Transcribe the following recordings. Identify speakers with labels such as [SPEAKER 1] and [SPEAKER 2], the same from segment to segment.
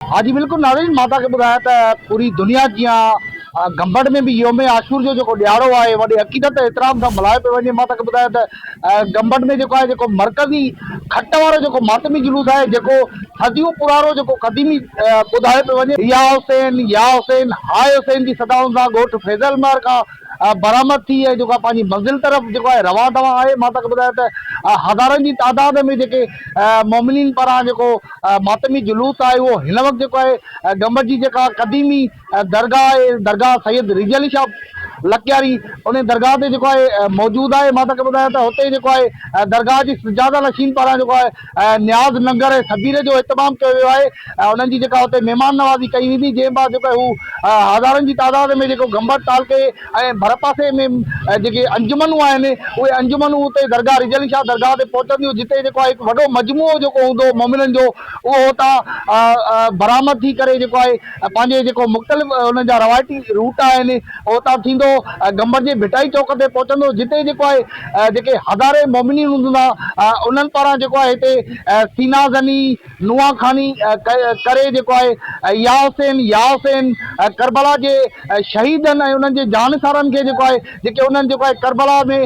[SPEAKER 1] ها جي بلڪل ناظرين مان توهان کي ٻڌايان ته پوري دنيا جيان گمبٽ ۾ به يوم عاشور جو جيڪو ڏيهاڙو آهي وڏي عقيدت ۽ احترام سان ملهايو پيو وڃي مان توهان کي ٻڌايان ته گمبٽ ۾ جيڪو آهي جيڪو مرڪزي کٽ وارو جيڪو ماتمي جلوس آهي جيڪو صديون پراڻو جيڪو قديمي ٻڌايو پيو وڃي يا حسين يا حسين هاء حسين جي صدائن سان ڳوٺ فيض المار کان برآمد ٿي ۽ جيڪو آهي پنهنجي منزل طرف جيڪو آهي روان دوان آهي مان توکي ٻڌايان ته هزارن جي تعداد ۾ جيڪي مؤمنين پاران جيڪو ماتمي جلوس آهي اهو هن وقت جيڪو آهي گمبٽ جي جيڪا قديمي درگاهه آهي درگاهه سيد رضي علي شاهه لڪياري انهي درگاهه تي جيڪو آهي موجود آهي مان توکي ٻڌايان ته هتي جيڪو آهي درگاهه جي سجاده نشين پاران جيڪو آهي نياز ننگر ۽ سبير جو اهتمام ڪيو ويو آهي ۽ انهن جي جيڪا اتي مهمان نوازي ڪئي ويندي جنهن بعد جيڪو آهي هو هزارن جي تعداد ۾ جيڪو گمبٽ تعلقي ۽ ڀرپاسي ۾ جيڪي انجمنون آهن اهي انجمنون اتي درگاهه رجعلي شاهه درگاهه تي پهچنديون جتي جيڪو آهي هڪ وڏو مجموعو جيڪو هوندو مؤمنن جو اهو اتان برآمد ٿي ڪري جيڪو آهي ۽ پنهنجي جيڪو مختلف انهن جا روايتي روٽ آهن او اتان ٿيندو گمبر جي ڀٽائي چوڪ تي پهچندو جتي جيڪو آهي جيڪي هزارين مومنين هوندا انهن پاران جيڪو آهي هتي سينا زني نوحان خواني ڪري جيڪو آهي يا حسين يا حسين ڪربلا جي شهيدن ۽ انهن جي جانثارن کي جيڪو آهي جيڪي انهن جيڪو آهي ڪربلا ۾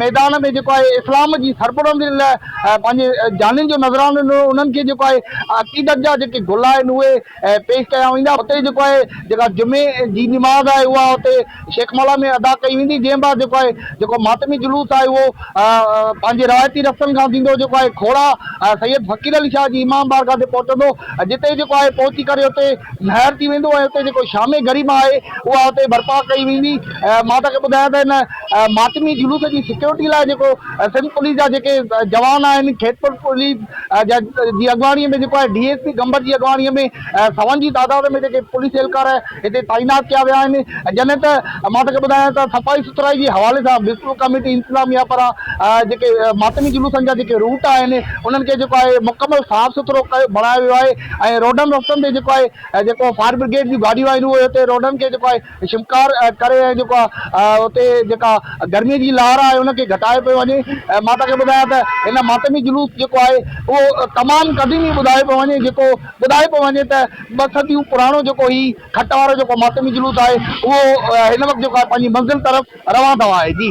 [SPEAKER 1] ميدان ۾ جيڪو آهي اسلام جي سربلندي لاء پنهنجي جانين جو نذرانو ڏنو انهن کي جيڪو آهي عقيدت جا جيڪي گل آهن اهي پيش ڪيا ويندا اتي جيڪو آهي جيڪا جمعي جي نماز آهي اها اتي شيخ مالها ۾ ادا ڪئي ويندي جنهن بعد جيڪو آهي جيڪو ماتمي جلوس آهي اهو پنهنجي روايتي رستن کان ٿيندو جيڪو آهي کوڙا سيد فقير علي شاهه جي امام بارگاهه تي پهچندو جتي جيڪو آهي پهچي ڪري اتي مهر ٿي ويندو ۽ اتي جيڪو شام غريبه آهي اها اتي برپا ڪئي ويندي مان توهان کي ٻڌايان ته هن ماتمي جلوس جي سيڪيورٽي لاء جيڪو سنڌ پوليس جا جيڪي جوان آهن کيتپور پوليس جي اڳواڻي ۾ جيڪو آهي ڊي ايس پي گمبٽ جي اڳواڻي ۾ سون جي تعداد ۾ جيڪي پوليس اهلڪار هتي تعينات ڪيا ويا آهن جڏهن ته مان توکي ٻڌايان ته صفائي سٿرائي جي حوالي سان ميونسپل ڪميٽي انتظاميا پاران جيڪي ماتمي جلوسن جا جيڪي روٽ آهن انهن کي جيڪو آهي مڪمل صاف سٿرو ڪيو بڻايو ويو آهي ۽ روڊن رستن تي جيڪو آهي جيڪو فائر برگيڊ جون گاڏيون آهن اهي هتي روڊن کي جيڪو آهي شمڪار ڪري ۽ جيڪو آهي اتي جيڪا گرمي جي لهر آهي ان کي گهٽائي پيو وڃي ۽ مان توهان کي ٻڌايان ته هن ماتمي جلوس جيڪو آهي اهو تمام قديمي ٻڌايو پيو وڃي جيڪو ٻڌايو پيو وڃي ته ٻه صديون پراڻو جيڪو هي کٽ وارو جيڪو ماتمي جلوس آهي اهو هن وقت جيڪو آهي پنهنجي منزل طرف روان ٿو آهي جي